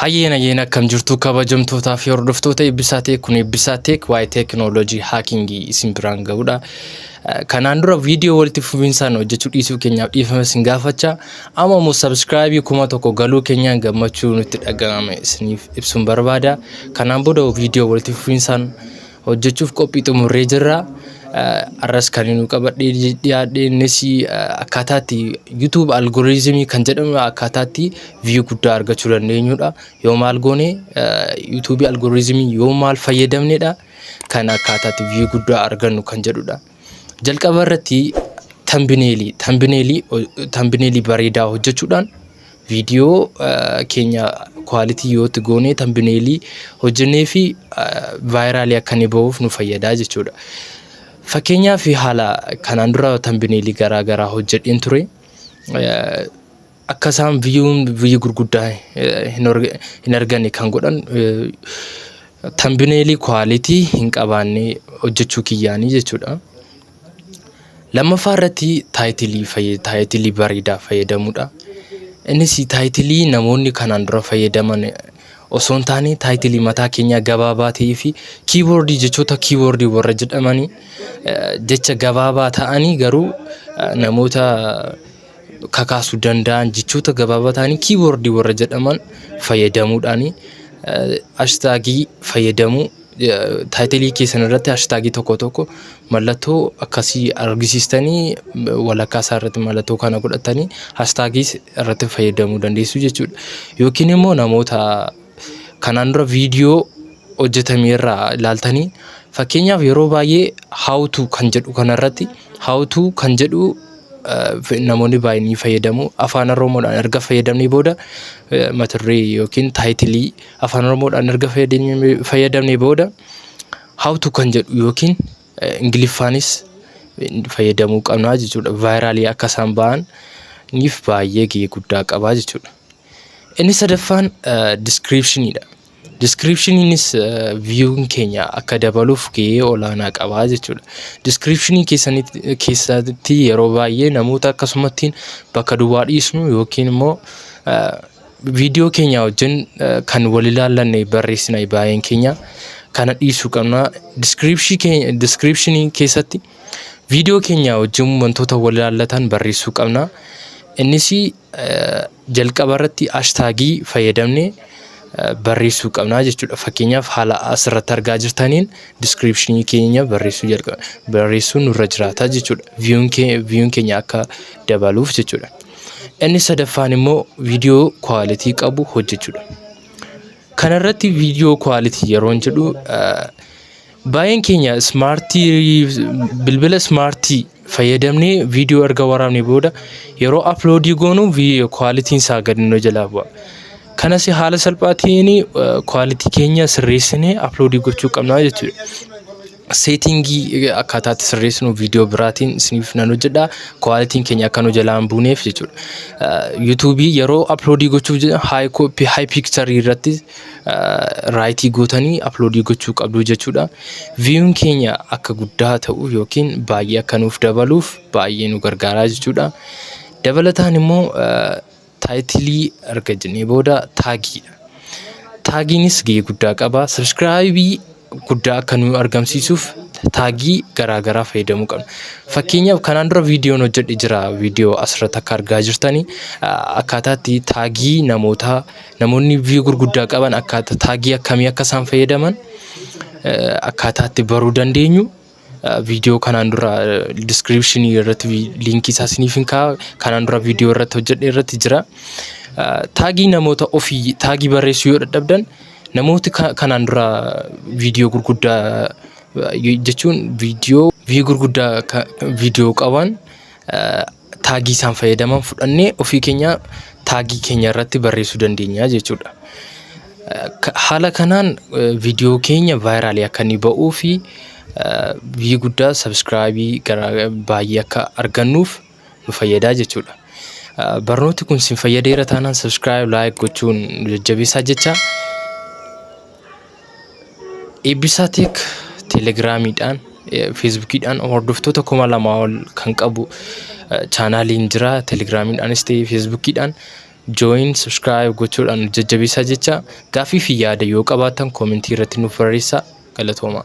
Hayyeen hayyeen akkam jirtu kabajamtootaa fi hordoftoota eebbisaa teek kun eebbisaa teek waa'ee teekinooloojii haakingii isin biraan ga'udha. Kanaan dura viidiyoo walitti fufinsaan hojjechuu dhiisuu keenyaaf dhiifama isin gaafacha. Amma immoo sabskraayibii kuma tokko galuu keenyaan gammachuu nutti dhaga'ame isiniif ibsuun barbaada. Kanaan booda viidiyoo walitti fufinsaan hojjechuuf qophii xumurree jirra. Arras kan inni qabadhee dhiyaadhe innis akkaataatti YouTube algorithm kan jedhamu akkaataatti view guddaa argachuu dandeenyudha. Yoo maal goone YouTube algorithm yoo maal fayyadamnedha kan akkaataatti view guddaa argannu kan jedhudha. Jalqaba irratti tambineelii tambineelii tambineelii bareedaa hojjechuudhaan viidiyoo eh, keenya kwaalitii yoo itti goonee tambineelii hojjennee fi vaayiraalii akka inni bahuuf nu fayyadaa jechuudha. Fakkeenyaaf haala kanaan dura tambineelii garaa garaa hojjedheen ture. Eh, Akka isaan viyuun viyyu gurguddaa hin arganne kan godhan tambineelii kwaalitii hin qabaanne hojjechuu kiyyaanii jechuudha. Lammaffaa irratti taayitilii fayyad- taayitilii bareedaa fayyadamuudha. Innis taayitilii namoonni kanaan dura fayyadaman osoo hin taane taayitilii mataa keenyaa gabaabaa ta'ee fi kiiboordii jechoota kiiboordii warra jedhamanii eh, jecha gabaabaa ta'anii garuu eh, namoota kakaasu danda'an jechoota gabaabaa ta'anii kiiboordii warra jedhaman fayyadamuudhaan ashtaagii fayyadamuu taayitilii keessan irratti ashtaagii tokko tokko mallattoo akkasii argisiistanii walakkaa isaa irratti mallattoo kana godhatanii ashtaagiis irratti fayyadamuu dandeessu jechuudha. Yookiin immoo namoota kanaan dura viidiyoo hojjetame irraa ilaaltanii fakkeenyaaf yeroo baay'ee how to kan jedhu kanarratti how to kan jedhu eh, namoonni baay'een ni fayyadamu afaan oromoodhaan erga fayyadamnee booda eh, mata duree yookiin taayitilii afaan oromoodhaan erga fayyadamnee fayyadamnee booda how to kan jedhu yookiin eh, ingiliffaanis eh, fayyadamuu qabna jechuudha vaayiraalii akka isaan ba'an niif baay'ee gahee guddaa qabaa jechuudha. Inni sadaffaan description dha. Descriptioniinis view'n keenya akka dabaluuf gahee olaanaa qaba jechuudha. Descriptionii keessanitti keessatti yeroo baay'ee namoota akkasumattiin bakka duwwaa dhiisnu yookiin immoo viidiyoo keenya wajjin kan wal ilaallanne barreessina baay'een keenya kana dhiisuu qabna. Description keenya descriptionii keessatti viidiyoo keenya wajjin wantoota wal ilaallatan barreessuu qabna. Innis jalqaba irratti ashtaagii fayyadamne barreessuu qabnaa jechuudha. Fakkeenyaaf haala asirratti argaa jirtaniin diskiripshinii keenya barreessuu jalqaba barreessuu nurra jiraata jechuudha. Viyuun keenya akka dabaluuf jechuudha. Inni sadaffaan immoo viidiyoo kwaalitii qabu hojjechuudha. Kanarratti viidiyoo kwaalitii yeroon jedhu Baay'een keenya ismaartii bilbila ismaartii fayyadamnee viidiyoo erga waraabne booda yeroo aploodii goonu kwaalitiin isaa gadi nu jalaa bu'a. Kanas haala salphaa ta'een kwaalitii keenya sirreessinee aploodii gochuu qabna jechuudha. Seetiingii akkaataa itti sirreessinu viidiyoo biraatiin isiniif nan hojjedha. Kwaalitiin keenya akka nu jalaa hin buuneef jechuudha. Yuutuubii yeroo aploodii gochuuf haay piikcharii irratti raayitii gootanii aploodii gochuu qabdu jechuudha. Viyuun keenya akka guddaa ta'u yookiin baay'ee akka nuuf dabaluuf baay'ee nu gargaaraa jechuudha. Dabalataan immoo taayitilii erga jennee booda taagiidha. Taagiinis gahee guddaa qaba. Sabiskiraayibii guddaa akka nu argamsiisuuf taagii garaa garaa fayyadamuu qabna. Fakkeenyaaf kanaan dura viidiyoon hojjedhe jira viidiyoo asirratti akka argaa jirtani akkaataa itti taagii namootaa namoonni viiyuu gurguddaa qaban akkaataa taagii akkamii akka isaan fayyadaman akkaataa itti baruu dandeenyu viidiyoo kanaan dura description irratti liinkii isaa isiniif hin kaa'a kanaan dura viidiyoo irratti hojjedhe irratti jira. Taagii namoota ofii taagii barreessuu yoo dadhabdan namooti kanaan dura viidiyoo gurguddaa jechuun viidiyoo vii gurguddaa viidiyoo qaban taagii isaan fayyadaman fudhannee ofii keenya taagii keenya irratti barreessuu dandeenya jechuudha. Haala kanaan viidiyoo keenya vaayiraalii akka inni ba'uu fi biyyi guddaa sabiskiraayibii garaa baay'ee akka argannuuf nu fayyadaa jechuudha. Barnooti kun sin fayyadeera taanaan sabiskiraayib laayik gochuun jajjabeessaa jecha Eebbisaa Teek Telegiraamiidhaan, Feesbuukiidhaan hordoftoota kuma lamaa ol kan qabu chaanaaliin jira. Telegiraamiidhaanis ta'ee Feesbuukiidhaan join, subscribe gochuudhaan nu jajjabeessaa jechaa gaaffii fi yaada yoo qabaattan koomentii irratti nuuf barreessaa. Galatoomaa!